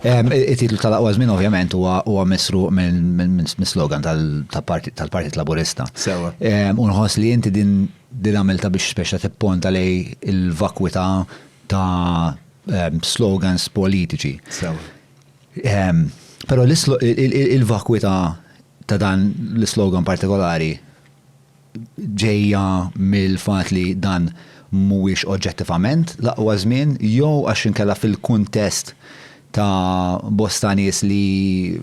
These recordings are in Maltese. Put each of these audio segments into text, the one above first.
It-titlu tal-aqwa żmien ovvjament huwa misruq mis-slogan tal-Partit Laburista. Sewwa. U nħoss li inti din din għamiltha biex speċa tipponta lej il-vakwità ta' slogans politiċi. Sewwa. Però il-vakwità ta' dan l-islogan partikolari ġejja mill-fatt li dan mhuwiex oġġettivament l-aqwa żmien jew għax inkella fil-kuntest ta' bosta nies li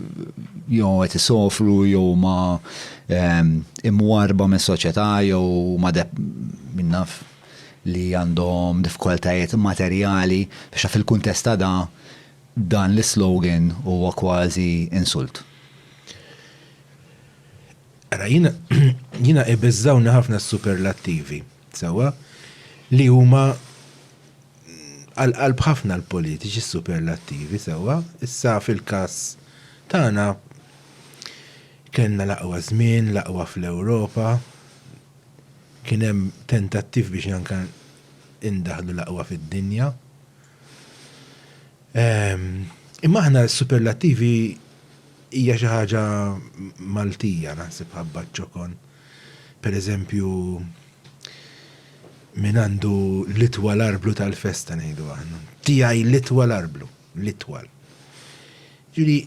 jew qed isofru jew huma ehm, imwarrba mis-soċjetà jew huma min naf li għandhom diffikultajiet materjali, biex fil-kuntest ta' da dan l-islogan huwa kważi insult. Ara, jiena, jiena ibiżżawni ħafna s-superlattivi, sewwa, li huma għal-qalb ħafna l-politiċi s-superlattivi, sewwa, issa fil-każ tagħna kellna l-aqwa żmien, l-aqwa fl-Ewropa, kien hemm tentattiv biex anke indaħlu l-aqwa fid-dinja. Ehm, imma aħna s-superlattivi Hija xi ħaġa Maltija naħseb ħabba ċ-ċokon. Per eżempju, min għandu l-itwal arblu tal-festa ngħidu aħna. Tiegħi l-itwal arblu, l-itwal. Ġifieri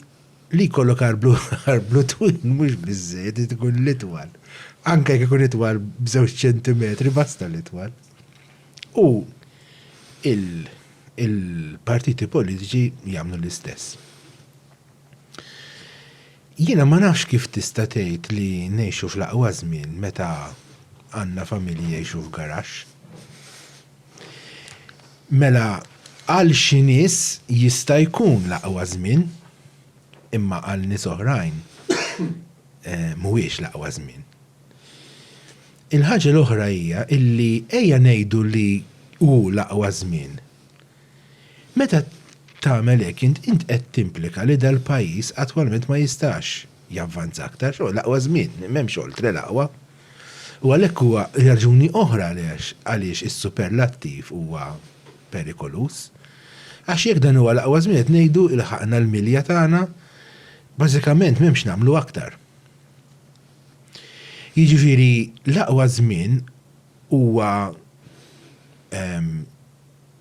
li jkollok arblu arblu twil mhux biżżejjed li tkun l-itwal. Anke jekk ikun itwal b'żewġ ċentimetri basta l-itwal. U il-partiti politiċi jagħmlu l-istess. Jiena ma nafx kif tista' tgħid li ngħixu fl-aqwa żmien meta għandna familji jgħixu f'garaxx. Mela għal xi nies jista' jkun l-aqwa żmien, imma għal nies oħrajn mhuwiex l-aqwa żmien. Il-ħaġa l-oħra hija illi ejja ngħidu li hu l-aqwa żmien. Meta tagħmel hekk int int qed timplika li dal-pajjiż attwalment ma jistax javvanza aktar, x'inhu l-aqwa żmien, m'hemmx oltre l-aqwa. U għalhekk huwa raġuni oħra għaliex għaliex is-superlattiv huwa perikoluż. Għax jekk dan huwa l-aqwa żmien qed ngħidu ilħaqna l-milja tagħna, bażikament m'hemm x'nagħmlu aktar. Jiġifieri l-aqwa żmien Huwa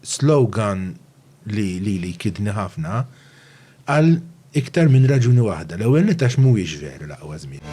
slogan li lili jkiddni ħafna għal iktar minn raġuni waħda. L-ewwel nett għax mhuwiex veru l-aqwa żmien.